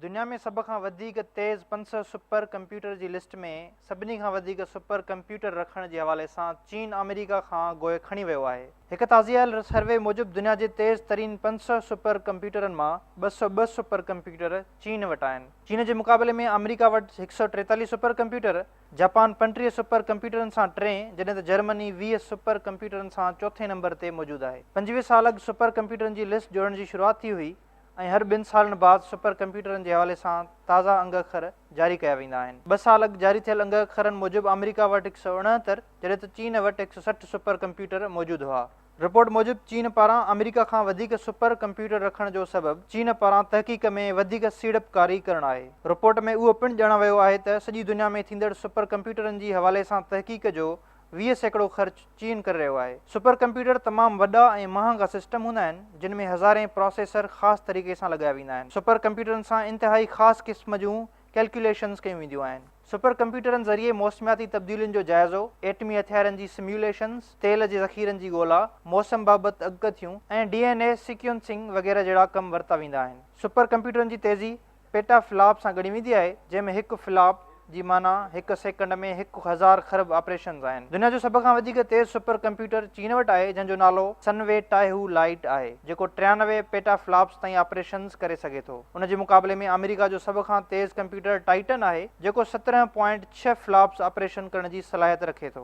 دنيا ۾ سڀ کان وڌيڪ تيز پنج سؤ سپر ڪمپيوٽر جي لسٽ ۾ سڀني کان وڌيڪ سپر ڪمپيوٽر رکڻ جي حوالي سان چين آمريڪا کان گوء کڻي ويو آهي. هڪ تازي آيل سروي موجب دنيا جي تيز ترين پنج سؤ سپر ڪمپيوٽرن مان ٻه سؤ ٻه سپر ڪمپيوٽر چين وٽ آهن. چين جي مقابلي ۾ آمريڪا وٽ هڪ سؤ ٽيتاليهه سپر ڪمپيوٽر، جاپان پنجٽيهه سپر ڪمپيوٽرن سان ٽئين جڏهن ته جرمني ويهه سپر ڪمپيوٽرن سان چوٿين نمبر تي موجود آهي. پنجويهه سال اڳ سپر ڪمپيوٽرن جي لسٽ جوڙڻ جي شروعات ٿي هئي. ۽ هر ٻن سالن بعد سپر ڪمپيوٽرن جي حوالي سان تازا انگ اکر جاري ڪيا ويندا آهن. ٻه سال اڳ جاري ٿيل انگ اکرن موجب آمريڪا وٽ هڪ سؤ اڻهتر جڏهن ته چين وٽ هڪ سؤ سٺ سپر ڪمپيوٽر موجود هئا. رپورٽ موجب چين پاران آمريڪا کان وڌيڪ سپر ڪمپيوٽر رکڻ جو سبب چين پاران تحقيق ۾ وڌيڪ سيڙپڪاري ڪرڻ آهي. رپورٽ ۾ اهو پڻ ڄاڻايو ويو آهي ته سڄي دنيا ۾ ٿيندڙ سپر ڪمپيوٽرن جي حوالي سان تحقيق جو ويهه سيڪڙو خرچ چين ڪري رهيو آهي. سپر ڪمپيوٽر تمام وڏا ۽ مهانگا سسٽم هوندا آهن، جن ۾ هزارين پراسيسر خاص طريقي سان لڳايا ويندا آهن. سپر ڪمپيوٽرن سان انتهائي خاص قسم جون ڪيلڪيوليشنز ڪيون وينديون آهن. سپر ڪمپيوٽرن ذريعي موسمياتي تبديلين جو جائزو، ايٽمي هٿيارن جي سميوليشنز، تيل جي ذخيرن جي ڳولا، موسم بابت اڳڪٿيون، ۽ ڊي اين اي سيڪيونسنگ وغيره جهڙا ڪم ورتا ويندا آهن. سپر ڪمپيوٽرن جي تيزي، پيٽا فلاپ سان ڳڻي ويندي آهي، جنهن ۾ هڪ فلاپ جي معنيٰ هڪ سيڪنڊ ۾ هڪ هزار خرب آپريشنز آهن. دنيا جو سڀ کان وڌيڪ تيز سپر ڪمپيوٽر چين وٽ آهي، جنهن جو نالو سن وي ٽائهو لائيٽ آهي، جيڪو ٽيانوي پيٽا فلاپس تائين آپريشنز ڪري سگهي ٿو. ان جي مقابلي ۾ آمريڪا جو سڀ کان تيز ڪمپيوٽر ٽائيٽن آهي، جيڪو سترهن پوائنٽ ڇهه فلاپس آپريشن ڪرڻ جي صلاحيت رکي ٿو.